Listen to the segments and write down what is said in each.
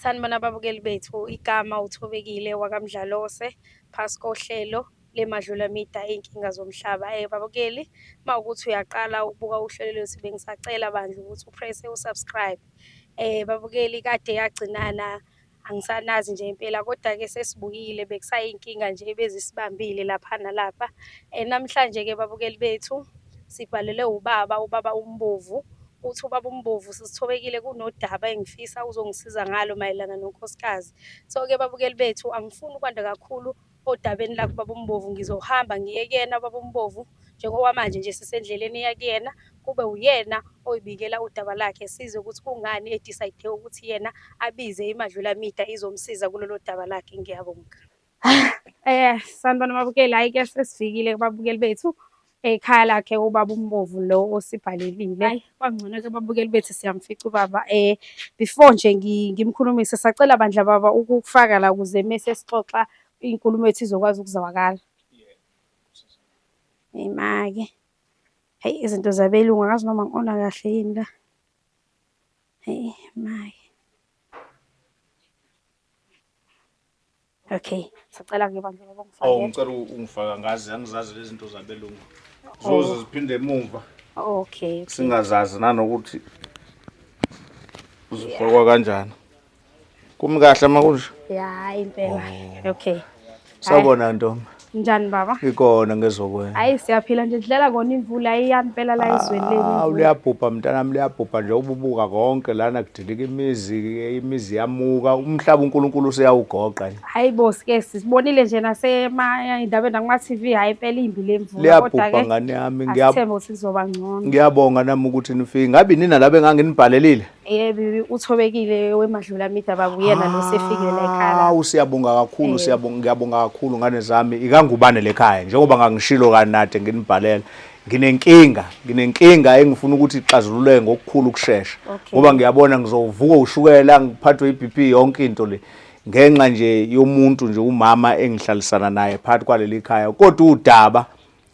Sanibona ababukeli bethu, igama uThobekile wakaMdlalose phasi kohlelo leMadlula Mida iy'nkinga zomhlaba. Eh babukeli, uma ukuthi uyaqala ukubuka uhlelo lwethu bengisacela bandla ukuthi uprese u-subscribe. Eh babukeli kade yagcinana angisanazi nje impela kodwa-ke sesibuyile bekusayinkinga nje ebezisibambile lapha nalapha. Eh namhlanje-ke babukeli bethu sibhalelwe ubaba, ubaba umbovu Uthi ubaba uMbovu sesithobekile kunodaba engifisa uzongisiza ngalo mayelana nonkosikazi. So-ke babukeli bethu angifuni ukwanda kakhulu odabeni lakho ubaba uMbovu ngizohamba ngiye kuyena ubaba uMbovu njengokwamanje nje sisendleleni eya kuyena kube uyena oyibikela udaba lakhe sizwe ukuthi kungani edicide ukuthi yena abize imadlula mida izomsiza kulolo daba lakhe ngiyabonga. Eh sanibona mabukeli hayi ke sesifikile kubabukeli bethu ekhaya lakhe ubaba umbovu lo osibhalelile hayi kwangcono ke babukeli bethu siyamfica ubaba eh before nje ngimkhulumise sacela bandla baba ukufaka la ukuze mese sixoxa inkulumo ethu izokwazi ukuzwakala imake hayi izinto zabelungu akazi noma ngiona kahle yini la hayi imake Okay. Sicela ke bandla baba ngifake. Oh ngicela ungifaka ngazi angizazi lezi zinto zabelungu. Oh. Zoze ziphinde emumva. Okay. Singazazi nanokuthi zifakwa kanjani. Kumi kahle makunje? Yeah, impela. Oh. Okay. Sawubona ntombi. Njani baba? Ikona ngezokwenza. Hayi siyaphila nje dlala kona imvula ayiyani phela la izweni leli. Ah liyabhubha mntanami liyabhubha nje ububuka konke lana kudilika imizi imizi yamuka umhlaba uNkulunkulu useyawugoqa nje. Hayi bo sike sibonile nje nasema indaba nakuma TV hayi phela imbi lemvula liyabhubha ngane yami ngiyabonga ukuthi nizoba ngcono. Ngiyabonga nami ukuthi nifike ngabe nina labe nganginibhalelile. Yebo, uthobekile wemadlula midaba nguyena lo sefikile la ekhaya. Hawu siyabonga kakhulu Eh. siyabonga ngiyabonga kakhulu ngane zami ikangubane lekhaya njengoba ngangishilo kanade nginibhalela nginenkinga nginenkinga engifuna ukuthi ixazululeke ngokukhulu ukushesha Okay. ngoba ngiyabona ngizovuka ushukela ngiphathwe iBP yonke into le ngenxa nje yomuntu nje umama engihlalisana naye phakathi kwaleli khaya kodwa udaba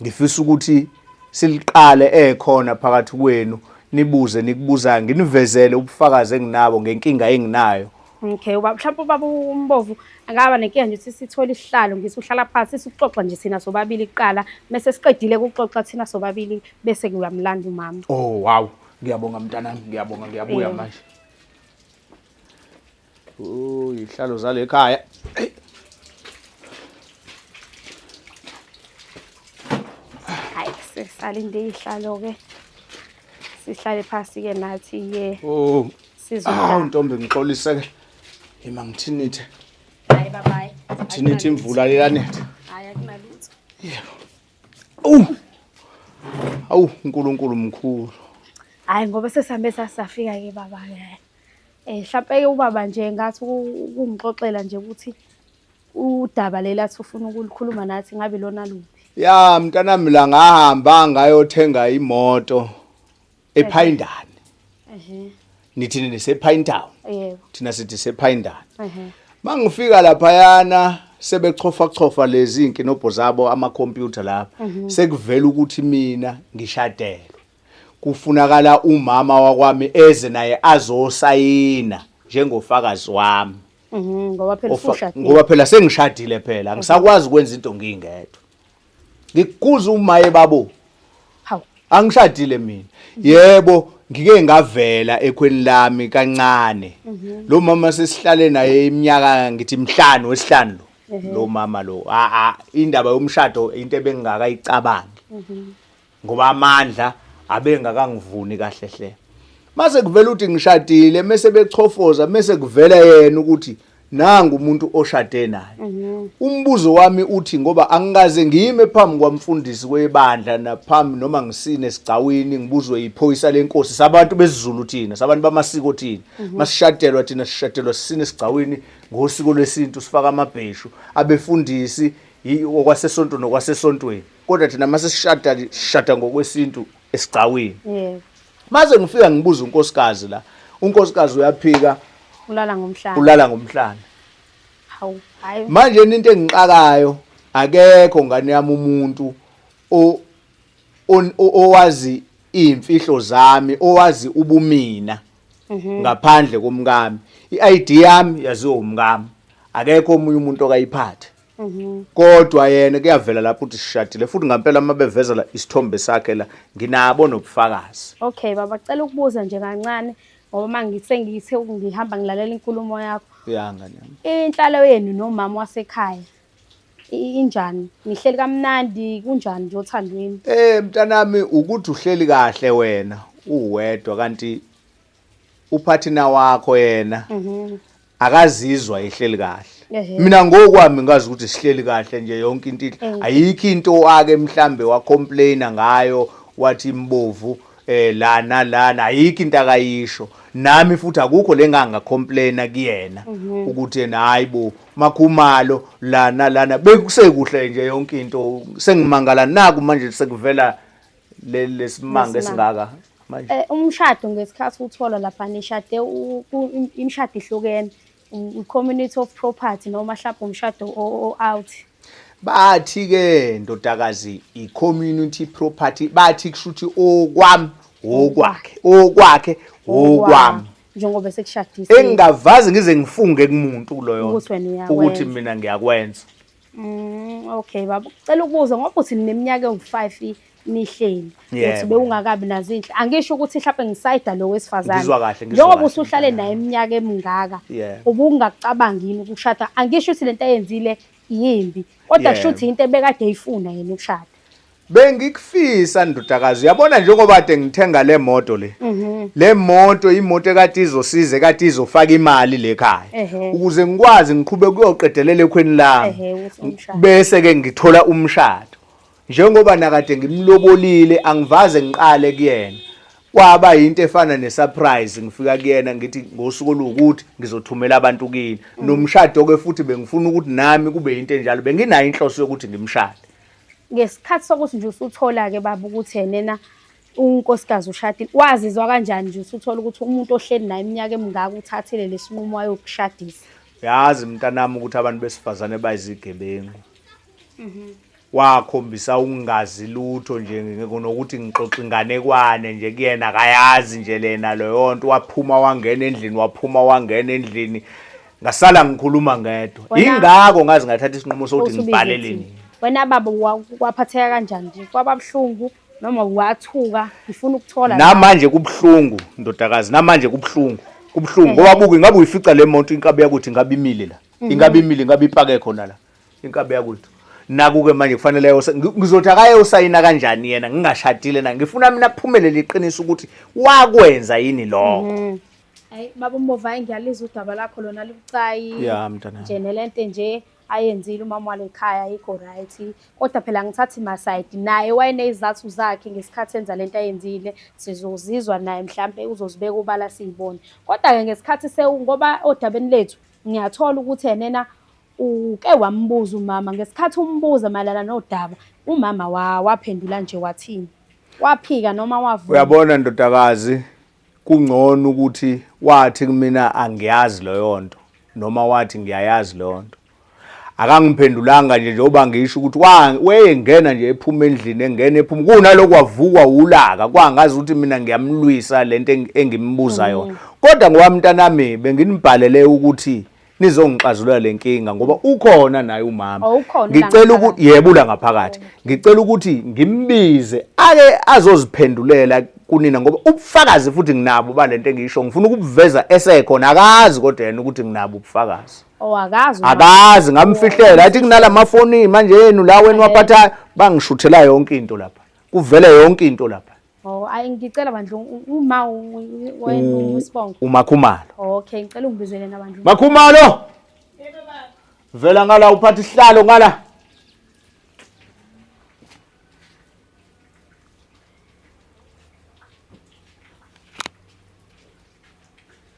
Ngifisa ukuthi siliqale ekhona phakathi kwenu nibuze nikubuzayo nginivezele ubufakazi enginabo ngenkinga enginayo Okay, ubaba mhlawumbe ubaba umbovu angaba nenkinga nje ukuthi sithole isihlalo ngithi uhlala phansi sikuxoxa nje thina sobabili kuqala mese siqedile ukuxoxa thina sobabili bese kuyamlanda umama. Oh wow, ngiyabonga mntanami, ngiyabonga ngiyabuya manje. uyihlalo zale khaya hayi sisalinde ihlalo-ke sihlale phasi-ke nathi ye oh awu ntombi ngixolise-ke ima ngithinithe hayi babayi ngithinithe imvula leyanetha hayi akunalutho yebo awu awu unkulunkulu mkhulu hayi ngoba sesihambe sasafika-ke baba-ke Eh mhlampe ke ubaba nje ngathi ukungixoxela nje ukuthi udaba leli athi ufuna ukulikhuluma nathi ngabe lona luphi. Ya mntanami la ngahamba ngayothenga imoto ePhayindane. Ehhe. Nithi nini sePhayintown? Yebo. Thina sithi sePhayindane. Ehhe. Mangifika lapha yana sebechofa chofa lezi nkinobho zabo ama computer lapha mhm. sekuvela ukuthi mina ngishadelwe. Kufunakala umama wakwami eze naye azosayina njengofakazi wami. Mhm, ngoba phela Ofa- usushadile. ngoba phela sengishadile phela angisakwazi ukwenza into ngingedwa ngikukuza umaye babo Hawu. angishadile mina yebo ngike ngavela ekhweni lami kancane lo mama sesihlale naye iminyaka ngithi mhlanu wesihlanu lo lo mama lo a a indaba yomshado into ebengingakayicabangi ngoba amandla abengakangivuni kahle hle mase kuvela ukuthi ngishadile mese bechofoza mese kuvela yena ukuthi nangu umuntu oshade naye mhm. umbuzo wami uthi ngoba angikaze ngime phambi kwamfundisi webandla naphambi noma ngisine sigcawini ngibuzwe yiphoyisa lenkosi sabantu besizulu thina sabantu bamasiko thina mhm. masishadelwa thina sishadelwa sisine sigcawini ngosiko lwesintu sifaka amabheshu abefundisi okwasesonto nokwasesontweni kodwa thina uma sesishada sishada ngokwesintu esigcawini yebo maze ngifika ngibuza unkosikazi la unkosikazi uyaphika ulala ngomhlane ulala ngomhlane hawu hayi manje into engixakayo akekho ngane yami umuntu o owazi imfihlo zami owazi ubumina mhm. ngaphandle komkami i-ID yami yaziwa umkami akekho omunye umuntu okayiphathe Mhm. kodwa yena kuyavela lapho ukuthi sishadile futhi ngampela uma bevezela isithombe sakhe la nginabo nobufakazi Okay baba cela ukubuza nje kancane ngoba mangithe ngithe ngihamba ngilalela inkulumo yakho. ya ngane yami Inhlalo yenu nomama wasekhaya i- injani? Nihleli kamnandi kunjani nje othandweni? Eh mntanami ukuthi uhleli kahle wena uwedwa kanti uphathina wakho yena mhm. akazizwa ehleli kahle mina ngokwami ngazi ukuthi sihleli kahle nje yonke into ayikho into ake mhlambe wa complain ngayo wathi imbovu eh la nalana ayikho into akayisho nami futhi akukho lenganga complaina kuyena mhm. ukuthi yena hayibo makhumalo lana lana bekusekuhle nje yonke into sengimangala naku manje sekuvela leli lesimanga esingaka manje eh umshado ngesikhathi uthola lapha nishade imshado ihlukene um, community of property noma hlapha umshado o out bathi ke ndodakazi i community property bathi kushuthi okwami okwakhe okwakhe okwami njengoba sekushadisa engingavazi ngize ngifunge kumuntu kuloyo ukuthi mina ngiyakwenza Mm, okay baba cela ukubuza ngoba uthi nineminyaka engu-five nihleli Yebo. uthi bewungakabi nazo inhle angisho ukuthi mhlawumbe ngisayida lo wesifazane Ngizwa kahle, ngizwa njengoba kahle. usuhlale naye iminyaka emingaka Yeah. ubungakucabangi yini ukushada angisho ukuthi lento ayenzile yimbi kodwa Yebo. kusho ukuthi yinto ebekade eyifuna yena ukushada Bengikufisa ndodakazi uyabona njengoba kade ngithenga le moto le mhm. le moto imoto ekade izosiza ekade izofaka imali le khaya ukuze ngikwazi ngiqhube kuyoqedelela ekhweni lami bese ke ngithola umshado njengoba nakade ngimlobolile angivaze ngiqale kuyena kwaba yinto efana nesurprise ngifika kuyena ngithi ngosuku oluwukuthi ngizothumela abantu kini mm. nomshado ke futhi bengifuna ukuthi nami kube yinto enjalo benginayo inhloso yokuthi ngimshade Ngesikhathi sokuthi nje usuthola-ke baba ukuthi enena unkosikazi ushadile, wazizwa kanjani nje usuthola ukuthi umuntu ohleli naye iminyaka emingaka uthathile lesinqumo ayokushadisa? Yazi mntanami ukuthi abantu besifazane bayizigebengu. Mhm. Wakhombisa ukungazi lutho nje nokuthi ngixoxa inganekwane nje kuyena akayazi nje lena loyonto waphuma wangena endlini waphuma wangena endlini ngasala ngikhuluma ngedwa Wena- ingakho ngaze ngathatha isinqumo sokuthi Usubize ngibhalele ithini? nini wena baba wa- kwaphatheka kanjani nje kwababuhlungu noma wathuka ngifuna ukuthola la. namanje kubuhlungu ndodakazi namanje kubuhlungu kubuhlungu ngoba buke ingabe uyifica le moto inkabi yakuthi ingabe imile la ingabe imile ingabe ipake khona la inkabi yakuthi naku-ke manje kufanele ayose- ngi- ngizothi akayosayina kanjani yena ngingashadile na ngifuna mina kuphumelele iqiniso ukuthi wakwenza yini lokho Hayi baba uMbovu hayi ngiyalizwa udaba lakho lona lubucayi. Ya mntanami. Nje nelento nje ayenzile umama wale khaya ayikho right. Kodwa phela ngithathi my side naye wayenezizathu zakhe ngesikhathi enza lento ayenzile. Sizozizwa naye mhlambe uzozibeka ubala siyibone. Kodwa ke ngesikhathi sewu ngoba odabeni lethu ngiyathola ukuthi enena uke wambuza umama ngesikhathi umbuza mayelana nodaba umama wa waphendula nje wathini? Waphika noma wavuma? Uyabona ndodakazi Kungcono ukuthi wathi kumina angiyazi leyo nto noma wathi ngiyayazi leyo nto. Akangiphendulanga nje njengoba ngisho ukuthi wayengena nje ephuma endlini engena ephuma kunalokho wavukwa wulaka kwangazi ukuthi mina ngiyamlwisa lento engimbuza yona. Kodwa ngoba mntanami benginibhalele ukuthi nizongixazulula le nkinga ngoba ukhona naye umama oh, ngicela ukuthi yebula ngaphakathi oh, ngicela ukuthi ngimbize ake azoziphendulela kunina ngoba ubufakazi futhi nginabo balento engisho ngifuna ukubuveza esekhona akazi kodwa yena ukuthi nginabo ubufakazi Oh akazi. Akazi ngamfihlela athi kunala mafoni manje yenu la wena waphatha bangishuthela yonke into lapha. Kuvele yonke into lapha. Oh, ayi ngicela bandla uma wena uSibongo. UMakhumalo. Okay, ngicela ungibizele na bandla. Makhumalo. Yebo baba. Vela ngala uphatha isihlalo ngala.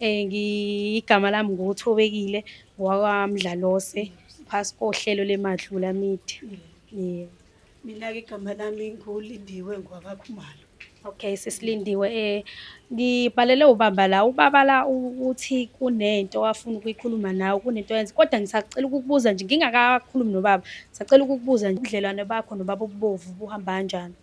Eh ngigama lami nguThobekile wakwaMdlalose phasi kohlelo leMadlula Media. Yeah. Mina ke igama lami nguLindiwe ngwakaKhumalo. Okay sesilindiwe eh ngibhalele ubaba la ubaba la uthi kunento afuna ukuyikhuluma nawe kunento yenze kodwa ngisacela ukukubuza nje ngingakakhulumi nobaba ngisacela ukukubuza nje ubudlelwane bakho nobaba ububovu buhamba kanjani.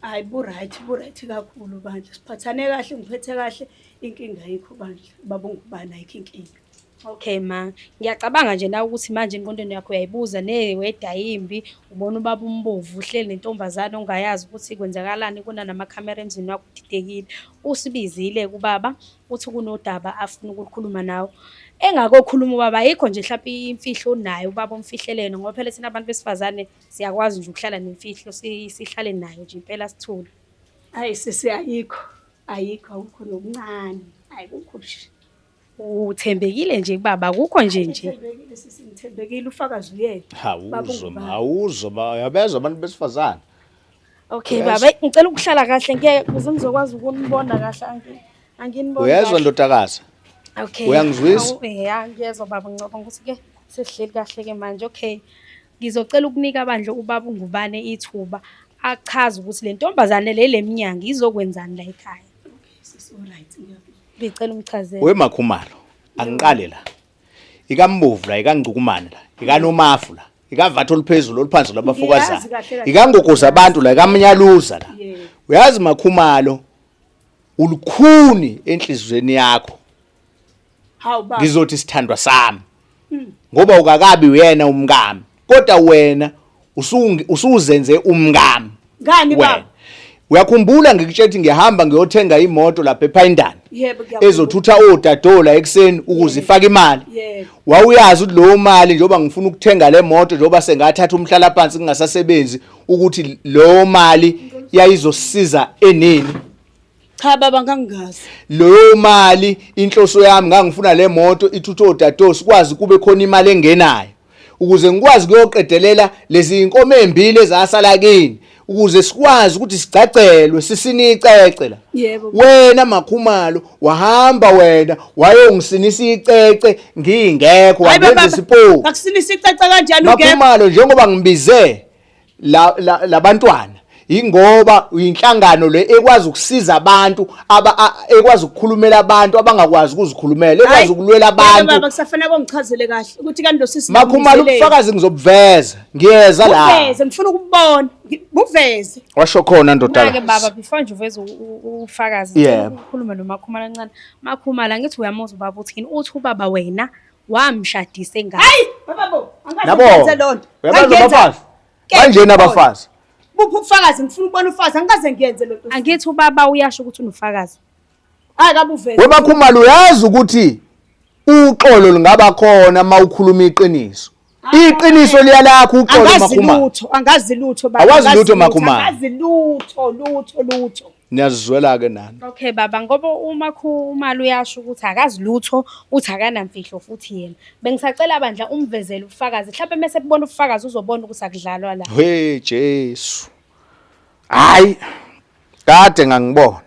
Hayi bu-right, bu-right kakhulu bandla. Siphathane kahle, ngiphethe kahle. Inkinga ayikho bandla. Baba ungubani ayikho inkinga. Okay ma, ngiyacabanga nje na ukuthi manje engqondweni yakho uyayibuza neweda yimbi, ubona ubaba umbovu uhleli nentombazane ongayazi ukuthi kwenzakalani kuna namakhamera emzini wakho udidekile. Usibizile kubaba uthi kunodaba afuna ukulikhuluma nawe. Engakokhuluma ubaba ayikho nje mhlawumbe imfihlo onayo ubaba omfihlelene ngoba phela thina abantu besifazane siyakwazi nje ukuhlala nemfihlo sihlale nayo nje impela sithule hayi sisi ayikho ayikho awukho nokuncane hayi kukho nje uthembekile nje kubaba akukho nje nje ngithembekile ufakazi uyena awuzo awuzo yabezwa abantu besifazane okay baba ngicela ukuhlala kahle ngeke kuze ngizokwazi ukunibona kahle anginibona uyezwa ndodakazi okay uyangizwisa eh, ya ngiyezwa baba ngicabanga ukuthi ke sesihleli kahle ke manje okay Ngizocela ukunika bandla ubaba uNgubane ithuba achaze ukuthi le ntombazane le lemnyango izokwenzani la ekhaya. Ngicela umchazele. We Makhumalo, angiqale la. Ikambovu la, ikangcukumane la, ikanomafu la, ikavatho oluphezulu oluphansi labafokazana. Ngiyazi kahle kahle. Ikangogoza abantu la, ikamnyaluza la. Yeah. Uyazi Makhumalo ulukhuni enhlizweni yakho. Hawu baba. Ngizothi sithandwa sami. Hmm. Ngoba ukakabi uyena umngami. Kodwa wena usuzenze umngami. Ngani baba? Uyakhumbula ngikutshela ukuthi ngihamba ngiyothenga imoto lapha ePhayindana. Yebo ngiyakhumbula. Ezothutha odadola ekseni ukuze ifake imali. Yebo. Wawuyazi ukuthi leyo mali njengoba ngifuna ukuthenga le moto njengoba sengathatha umhlala phansi kungasasebenzi ukuthi leyo mali yayizosiza enini. Cha baba ngangingazi. Leyo mali inhloso yami ngangifuna le moto ithutha odadewethu sikwazi kube khona imali engenayo ukuze ngikwazi kuyoqedelela lezi inkomo ezimbili ezasala kini ukuze sikwazi ukuthi sigcagcelwe sisinicece la yebo wena makhumalo wahamba wena wayongisinisa icece ngingekho wangenza isipoki akusinisa icece kanjani ungekho makhumalo njengoba ngibize la, la, labantwana ingoba uyinhlangano le ekwazi ukusiza abantu aba ekwazi ukukhulumela abantu abangakwazi ukuzikhulumela ekwazi ukulwela abantu baba kusafanele kongichazele kahle ukuthi kanti losisi makhumala ubufakazi ngizobuveza ngiyeza la uveze ngifuna ukubona buveze washo khona ndodana ke baba before nje uveze ufakazi ukhulume nomakhumala ncane makhumala ngithi uyamuzwa baba uthini uthi ubaba wena wamshadisa engane hayi baba bo Nabo. angikaze loo nto Uyabazi abafazi? Banjena abafazi. buphi ubufakazi ngifuna ukubona ufazi angikaze ngiyenze loo nto angithi ubaba uyasho ukuthi unofakazi hayi kabuveze Webakhumalo uyazi ukuthi uxolo lingaba khona uma ukhuluma iqiniso. Iqiniso liyalakho uxolo makhuma. Angazi lutho, angazi lutho baba. Awazi lutho makhuma. Angazi lutho, lutho, lutho. Niyazizwela ke nani. Okay baba ngoba uma khumali uyasho ukuthi akazi lutho uthi akanamfihlo futhi yena. Bengisacela bandla umvezele ubufakazi. Mhlawumbe mase kubona ubufakazi uzobona ukuthi akudlalwa la. Hey Jesu. Hayi. Kade ngangibona.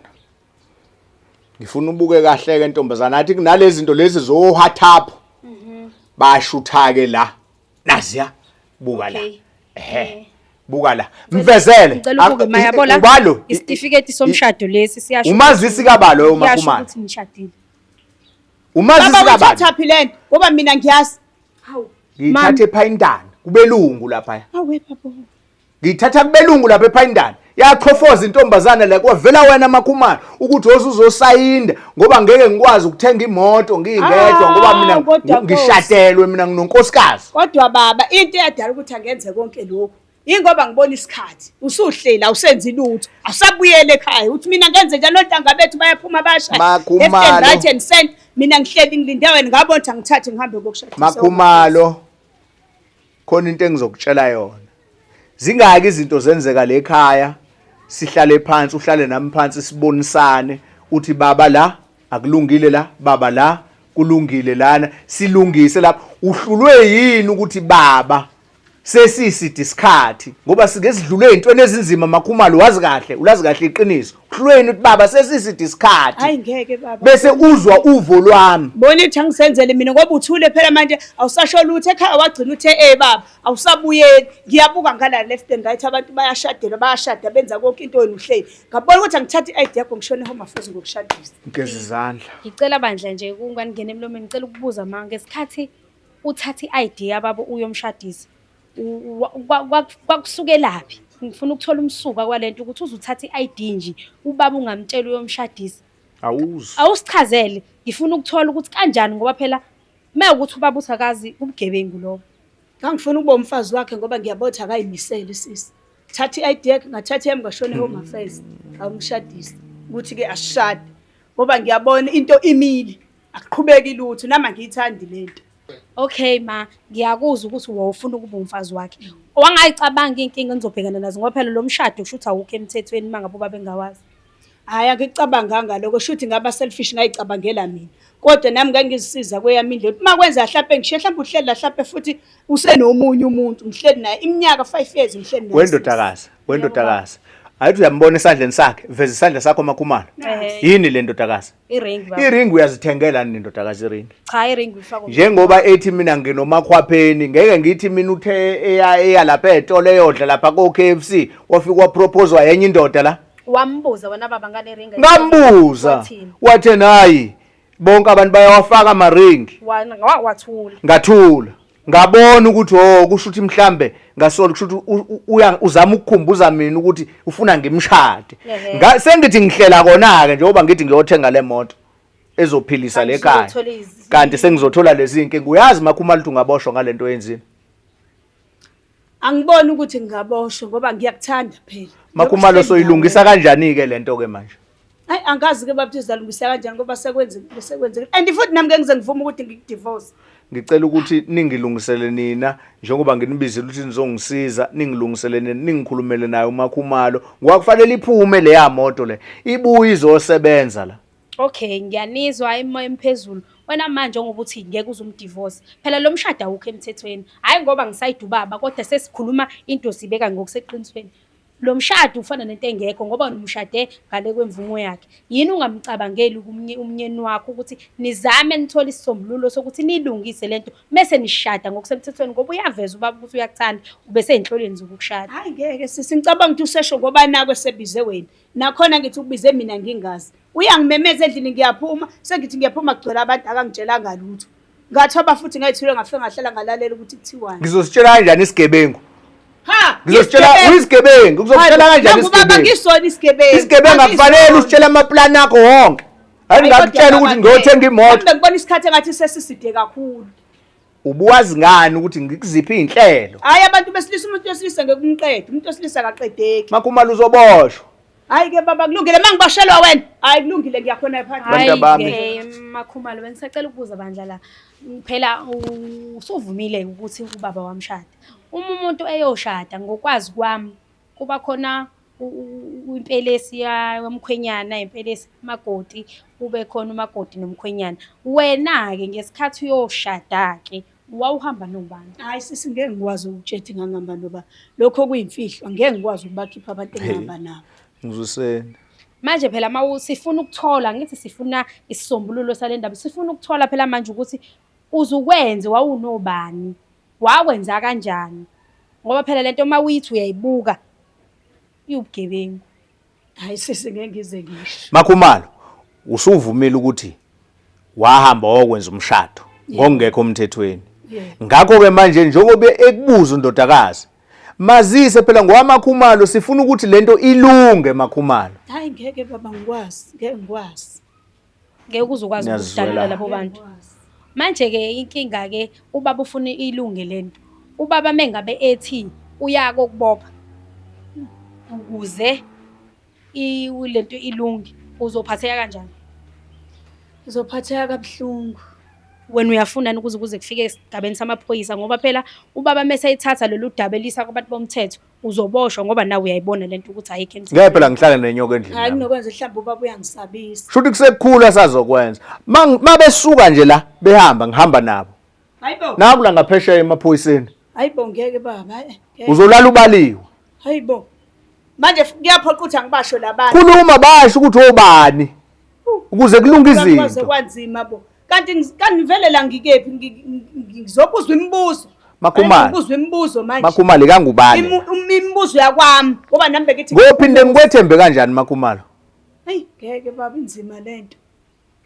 ngifuna ubuke kahle ke ntombazana athi kunalezi zinto lezi zo WhatsApp mhm. bashutha ke la naziya buka la ehe eh. buka la mvezele ngicela ubuke mayabona ubalo isitifiketi somshado lesi siyasho umazisi kabalo umakhumana ukuthi ngishadile umazisi kabalo baba uthaphi lento ngoba mina ngiyazi hawu ngithathe phayintana kubelungu lapha hawe baba ngiyithatha kubelungu lapha ephayindana yachofoza intombazane la kwavela wena makhumalo ukuthi woze uzosayinda ngoba ngeke ngikwazi ukuthenga imoto ngingedwa ngoba mina Awu, kodwa Nkosi. ngishatelwe mina nginonkosikazi kodwa baba into eyadala ukuthi angenze konke lokhu yingoba ngibona isikhathi usuhleli awusenzi lutho awusabuyele ekhaya uthi mina ngenze njani ontanga bethu bayaphuma bashaya Makhumalo. Left and right and center. mina ngihleli ngilinde wena ngabona ukuthi angithathe ngihambe kokushadisa makhumalo Khona into engizokutshela yona. Zingaki izinto zenzeka le khaya sihlale phansi uhlale nami phansi sibonisane uthi baba la akulungile la baba la kulungile lana silungise lapha uhlulwe yini ukuthi baba sesiside isikhathi ngoba sike sidlule ezintweni ezinzima makhumalo wazi kahle ulazi kahle iqiniso emkhahlweni uthi baba sesiside isikhathi hayi ngeke baba bese uzwa uvo lwami bona ithi angisenzele mina ngoba uthule phela manje awusasho lutho ekhaya wagcina uthe eh baba awusabuyeli ngiyabuka ngala left and right abantu bayashadela bayashada benza konke into yenu uhleli ngabona ukuthi angithatha i-id yakho ngishone home affairs ngokushadisa ngigeza izandla ngicela bandla nje kungani ngene emlomeni ngicela ukubuza mama ngesikhathi uthatha i-id yababa uyomshadisa Kwakusukelaphi? Ngifuna ukuthola umsuka kwalento ukuthi uzuthatha i-ID nje ubaba ungamtshela uyomshadisa. Awuzi. Awusichazele. Ngifuna ukuthola ukuthi kanjani ngoba phela mewukuthi ubaba uthi akazi ubugebengu lobo. Ngangifuna ukuba umfazi wakhe ngoba ngiyabona ukuthi akayimisele sisi. Thatha i-ID yakhe ngathatha yami ngashona e-Home Affairs ngawumshadisa ukuthi-ke asishade ngoba ngiyabona into imile. Akuqhubeki lutho nami angiyithandi lento. Okay ma, ngiyakuzwa ukuthi wawufuna ukuba umfazi wakhe. Wangayicabanga inkinga enizobhekana nazo ngoba phela lo mshado kusho ukuthi awukho emthethweni mangabe ubabe ngawazi. Hayi angicabanganga lokho shuthi ngaba selfish ngayicabangela mina. Kodwa nami ngangizisiza kweyami indlela. Uma kwenza hlampe ngishiye hlampe uhleli la hlampe futhi usenomunye umuntu ngihleli naye iminyaka 5 years ngihleli naye. Wendodakazi, wendodakazi. Ayithi uyambona esandleni sakhe, veza isandla sakho makhumalo. Yini le ndodakazi? I-ring baba. I-ring uyazithengela nini ndodakazi i-ring? Cha i-ring uyifaka Njengoba ethi mina nginomakhwapheni ngeke ngithi mina uthe eya eya lapha etolo eyodla lapha ko KFC wafika wapropose wayenye indoda la. Wambuza wena baba ngale ring. Ngambuza. Wathini? Wathe nayi bonke abantu bayawafaka ama ring. Wa- wa- Wathula. Ngathula. ngabona ukuthi oh kusho ukuthi mhlambe ngasolo kusho ukuthi uya uzama ukukhumbuza mina ukuthi ufuna ngimshade sengithi ngihlela kona ke njengoba ngithi ngiyothenga le moto ezophilisa le kaya kanti sengizothola lezi inkinga uyazi makhuma luthi ungaboshwa ngalento yenzini Angiboni ukuthi ngingaboshwa ngoba ngiyakuthanda phela. Makhumalo soyilungisa kanjani ke lento ke manje? Hayi angazi ke babthi uzalungisa kanjani ngoba sekwenzekile sekwenzekile. And futhi nami ke ngize ngivume ukuthi ngikudivorce. Ngicela ukuthi ningilungisele nina njengoba nginibizile ukuthi nizongisiza ningilungisele nina ningikhulumele naye uMakhumalo. Ngwakufanele iphume leya moto le. Ibuye izosebenza la. Okay, ngiyanizwa hayi moya emphezulu. Wena manje ngoba uthi ngeke uze umdivorce. Phela lo mshado awukho emthethweni. Hayi ngoba ngisayida ubaba kodwa sesikhuluma into sibeka ngokuseqinisweni. Lo mshado ufana nento engekho ngoba umshade ngale kwemvumo yakhe. Yini ungamcabangeli kumnye umnyeni wakho ukuthi nizame nithole isisombululo sokuthi nilungise lento mese nishada ngokusemthethweni ngoba uyaveza ubaba ukuthi uyakuthanda ubese enhloleni zokukushada. Hayi ngeke sisi ngicabanga ukuthi usesho ngoba nako esebize wena. Nakhona ngithi ukubize mina ngingazi. Uyangimemeza endlini ngiyaphuma, sengithi ngiyaphuma kugcwele abantu akangitshelanga lutho. Ngathoba futhi ngayithule ngafika ngahlala ngalalela ukuthi kuthiwani. Ngizositshela kanjani isigebengu? Ha! Ngizositshela uyisigebengu, ngizokutshela kanjani isigebengu? Baba ngisona isigebengu. Isigebengu akufanele usitshele amaplan akho wonke. Hayi ngakutshela ukuthi ngiyothenga imoto. Ngibona isikhathi engathi sesiside kakhulu. Ubuwazi ngani ukuthi ngikuziphi izinhlelo? Hayi abantu besilisa umuntu wesilisa ngeke umqede, umuntu wesilisa akaqedeki. Makhumalo uzoboshwa. Hayi ke baba kulungile mangiboshelwa wena. Hayi kulungile ngiyakhona phansi. Bantu abami. Hayi ke makhumalo bengisacela ukubuza bandla la. Phela usuvumile ukuthi ubaba wamshada. Uma umuntu eyoshada ngokwazi kwami kuba khona impelesi yamkhwenyana impelesi umakoti kube khona umakoti nomkhwenyana wena-ke ngesikhathi uyoshada-ke wawuhamba nobani hhayi sisi ngeke ngikwazi ukutshela ukuthi ngangihamba noba lokho kuyimfihlo ngeke ngikwazi ukubakhipha abantu engihamba nabo ngizwiseni manje phela ma sifuna ukuthola ngithi sifuna isisombululo sale ndaba sifuna ukuthola phela manje ukuthi uzukwenze wawunobani Wakwenza kanjani? Ngoba phela lento uma uyithi uyayibuka iwubugebengu. Hayi sisi ngeke ngize ngisho. Makhumalo usuvumile ukuthi wahamba wayokwenza umshado ngokungekho umthethweni. Ngakho ke manje njengoba ekubuza undodakazi mazise phela ngowamakhumalo sifuna ukuthi lento ilunge makhumalo. Hayi ngeke baba ngikwazi, ngeke ngikwazi. ngeke uze ukwazi Ngiyazizwela. ukudalula labo bantu manje-ke inkinga-ke ubaba ufuna ilunge le nto ubaba mengabe ethi uya kokubopha ukuze i- le nto ilunge uzophatheka kanjani Ngizophatheka kabuhlungu. wena uyafunani ukuze kuze kufike esigabeni samaphoyisa ngoba phela ubaba mese ethatha lolu daba elisa kwabantu bomthetho uzoboshwa ngoba nawe uyayibona lento ukuthi ayikho endlini. Ngeke phela ngihlale nenyoka endlini. Hayi kunokwenza mhlawumbe ubaba uyangisabisa. Shuthi kusekukhulu asazokwenza. Mabesuka nje la behamba ngihamba nabo. Hayibo. Naku la ngaphesheya emaphoyiseni. Hayibo ngeke baba. Uzolala ubaliwe. Hayibo. Manje kuyaphoqa ukuthi angibasho labantu. Khuluma basho ukuthi obani. Ukuze kulunge izinto. Kwanzima bo. kanti ngi- kanti ngivelela ngikephi Ngi- ngi- ngizobuzwa imibuzo Makhumalo. ngibuzwa imibuzo manje makhumalo ikangubane Imu- um- imibuzo yakwami ngoba nami bekithi ngophinde ngikwethembe kanjani makhumalo eyi ngeke baba inzima le nto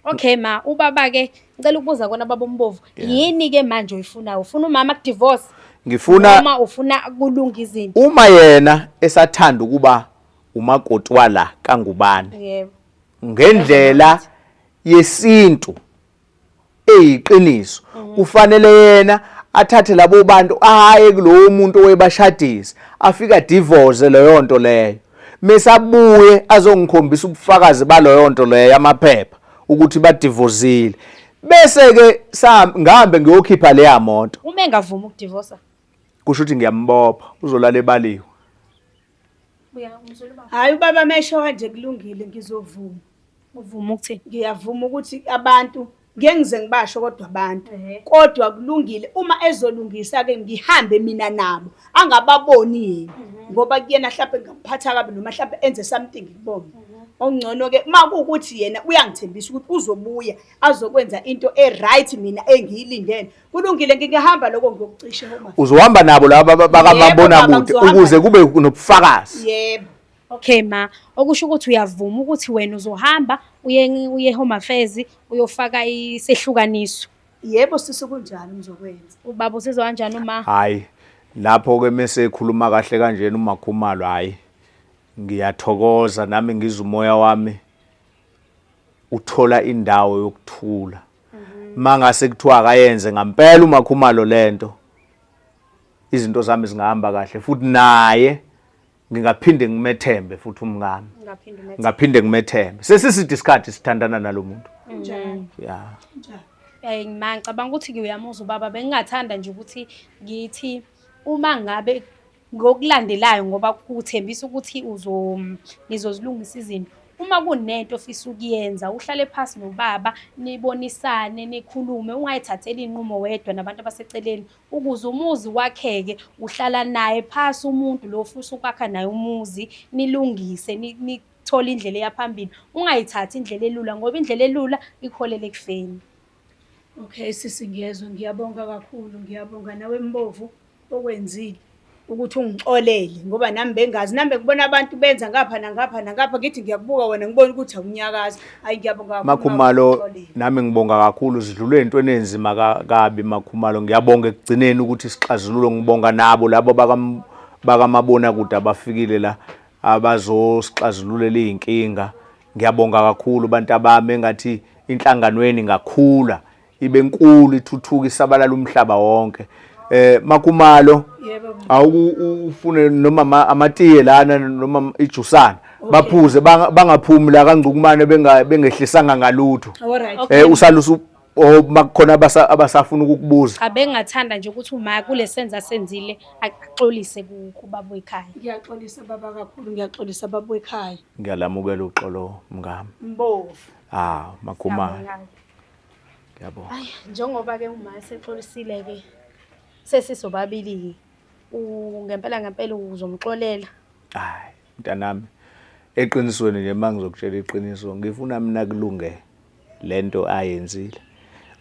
okay ma ubaba ke ngicela ukubuza kona baba umbovu yini ke manje oyifunayo ufuna umama kudivorce ngifuna noma ufuna kulunga izinto uma yena esathanda ukuba umakoti wala kangubane yebo ngendlela yesintu eyiqiniso mhm. kufanele yena athathe labo bantu ahaye kulowo muntu owebashadisa afika divorce leyo nto leyo mesabuye azongikhombisa ubufakazi baloyo nto leyo yamaphepha ukuthi badivozile bese ke ngihambe ngiyokhipha leya moto uma engavuma ukudivosa kusho ukuthi ngiyambopha uzolala ebaliwe Hayi ubaba amesho kanje kulungile ngizovuma. Uvuma ukuthini? Ngiyavuma ukuthi abantu ngeke ngize ngibasho kodwa abantu kodwa kulungile uma ezolungisa ke ngihambe mina nabo angababoni yena mhm. ngoba kuyena mhlawumbe ngingamphatha kabi noma mhlawumbe enze something kubona mhm. okungcono ke uma kuwukuthi yena uyangithembisa ukuthi uzobuya azokwenza into e-right mina engiyilindele kulungile ngingahamba lokho ngiyokucisha uma uzohamba nabo laba bakamambonakude ukuze kube nobufakazi yebo okay ma okusho ukuthi uyavuma ukuthi wena uzohamba uye uye home affairs uyofaka isehlukaniso yebo sisi kunjani ngizokwenza ubaba usizwa kanjani uma hayi lapho ke mese ekhuluma kahle kanjena umakhumalo hayi ngiyathokoza nami ngiza umoya wami uthola indawo yokuthula mangase kuthiwa akayenze ngampela umakhumalo lento izinto zami zingahamba kahle futhi naye ngingaphinde ngimethembe futhi umngami ngaphinde ngimethembe sesiside isikhathi sithandana nalomuntu yeah eh ngima ngicabanga ukuthi ngiyamuzwa ubaba bengingathanda nje ukuthi ngithi uma ngabe Ngokulandelayo ngoba kuthembisa ukuthi nizozilungisa izinto. Uma kunento ofisa ukuyenza uhlale phasi nobaba nibonisane nikhulume, ungayithatheli iy'nqumo wedwa nabantu abaseceleni. Ukuze umuzi wakheke uhlala naye phasi umuntu lo ofisa ukwakha naye umuzi, nilungise nithole indlela eya phambili. Ungayithathi indlela elula ngoba indlela elula ikuholela ekufeni. Okay sisi ngiyezwa ngiyabonga kakhulu ngiyabonga nawe Mbovu okwenzile ukuthi ungixolele ngoba nami bengazi nami bekubona abantu benza ngapha nangapha nangapha ngithi ngiyakubuka wena ngibona ukuthi awunyakazi hayi ngiyabonga kakhulu Makhumalo nami ngibonga kakhulu sidlule entweni enzima kabi Makhumalo ngiyabonga ekugcineni ukuthi sixazululo ngibonga nabo labo bakamabona kude abafikile la abazosixazululela izinkinga Ngiyabonga kakhulu bantabami engathi inhlanganweni ngakhula ibe nkulu ithuthuka isabalala umhlaba wonke eh makumalo awuku ufune noma amatiye lana noma ijusana baphuze bangaphumi la kangcukumane benga bengehlisanga ngalutho eh usalusu or makukhona abasafuna ukukubuza cha bengathanda nje ukuthi uma kule senza senzile axolise kubaba wekhaya ngiyaxolisa baba kakhulu ngiyaxolisa baba wekhaya Ngiyalamukela uxolo mngami. Mbovu. Ah, makhumalo. Ngiyabonga. Ay, njengoba ke uma sexolisile ke sesisobabili ngempela ngempela uzomxolela. Hayi, mntanami. Eqinisweni nje mangizokutshela iqiniso, ngifuna mina kulunge. lento ayenzile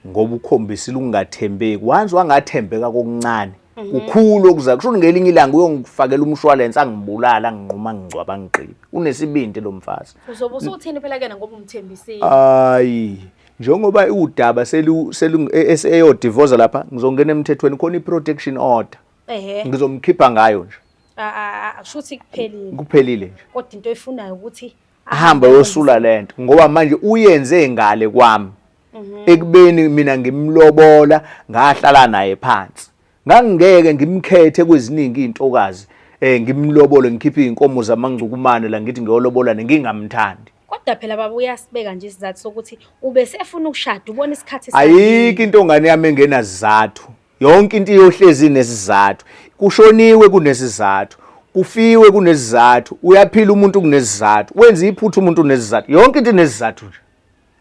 ngoba ukhombisile ukungathembeki once wangathembeka kokuncane mhm. kukhulu okuza kusho ngelinye ilanga uyongifakela umshwalense angibulala anginquma ngingcwaba ngigqibe unesibindi lo mfazi uzobe usuthini phela kena ngoba umthembisile hayi njengoba iwudaba selu selu e, e, eyo divorce lapha ngizongena emthethweni khona iprotection order ehe ngizomkhipha ngayo nje a a shuthi kuphelile kuphelile nje kodwa into efunayo ukuthi ahambe yosula lento ngoba manje uyenze ngale kwami mhm. ekubeni mina ngimlobola ngahlala naye phansi ngangingeke ngimkhethe kweziningi intokazi eh ngimlobole ngikhiphe inkomo zamangcukumane la ngithi ngiyolobola nengingamthandi kodwa phela baba uyasibeka nje isizathu sokuthi ube sefuna ukushada ubona isikhathi ayikho into ngane yami engenazizathu Yonke into iyohlezi inesizathu. Kushoniwe kunesizathu. Kufiwe kunesizathu. Uyaphila umuntu kunesizathu. Wenza iphutha umuntu unesizathu. Yonke into inesizathu nje.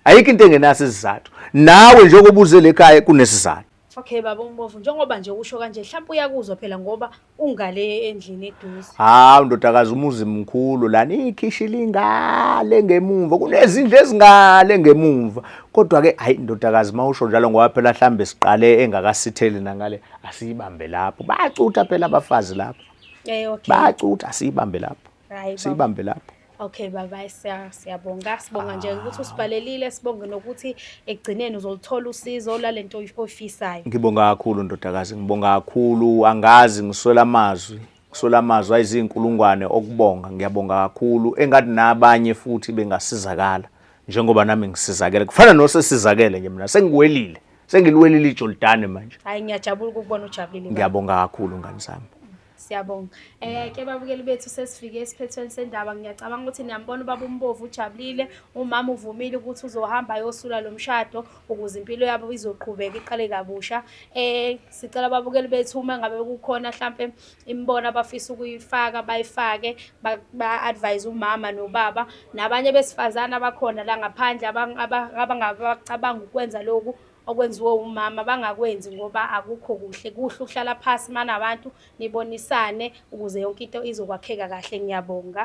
Ayikho into engenaso isizathu. Nawe njengoba uze lekhaya kunesizathu. Okay baba umbovu njengoba nje usho kanje mhlawumbe uyakuzwa phela ngoba Ungale endlini eduze. Hawu ndodakazi umuzi mkhulu lana ikhishi lingale ngemumva kunezindlu ezingale ngemumva kodwa ke hayi ndodakazi mawusho njalo ngoba phela hlambe siqale engakasitheli nangale asiyibambe lapho bacutha phela abafazi lapho. Eh okay. Bacutha asiyibambe lapho. Hayi baba. Siyibambe lapho. Okay baba siya- siyabonga sibonga nje ukuthi usibhalelile sibonge nokuthi ekugcineni uzoluthola usizo lalento oy- oyifisayo. Ngibonga kakhulu ndodakazi, ngibonga kakhulu, angazi ngiswela amazwi, ngiswela amazwi ayizinkulungwane okubonga, ngiyabonga kakhulu. Engathi nabanye futhi bengasizakala njengoba nami ngisizakele. Kufana nosesizakele nje mina, sengiwelile, sengiliwelile iJordani manje. Hayi ngiyajabula ukukubona ujabulile. baba. Ngiyabonga kakhulu ngani zami. Siyabonga. Eh ke babukeli bethu sesifike esiphethweni sendaba ngiyacabanga ukuthi niyambona ubaba umbovu ujabulile umama uvumile ukuthi uzohamba ayosula lo mshado ukuze impilo yabo izoqhubeka iqale kabusha. Eh sicela babukeli bethu uma ngabe kukhona mhlambe imibona abafisa ukuyifaka bayifake ba-advise umama nobaba nabanye besifazane abakhona la ngaphandle abangabacabanga ukwenza lokhu okwenziwe umama bangakwenzi ngoba akukho kuhle kuhle uhlala phasi manabantu nibonisane ukuze yonke into izokwakheka kahle ngiyabonga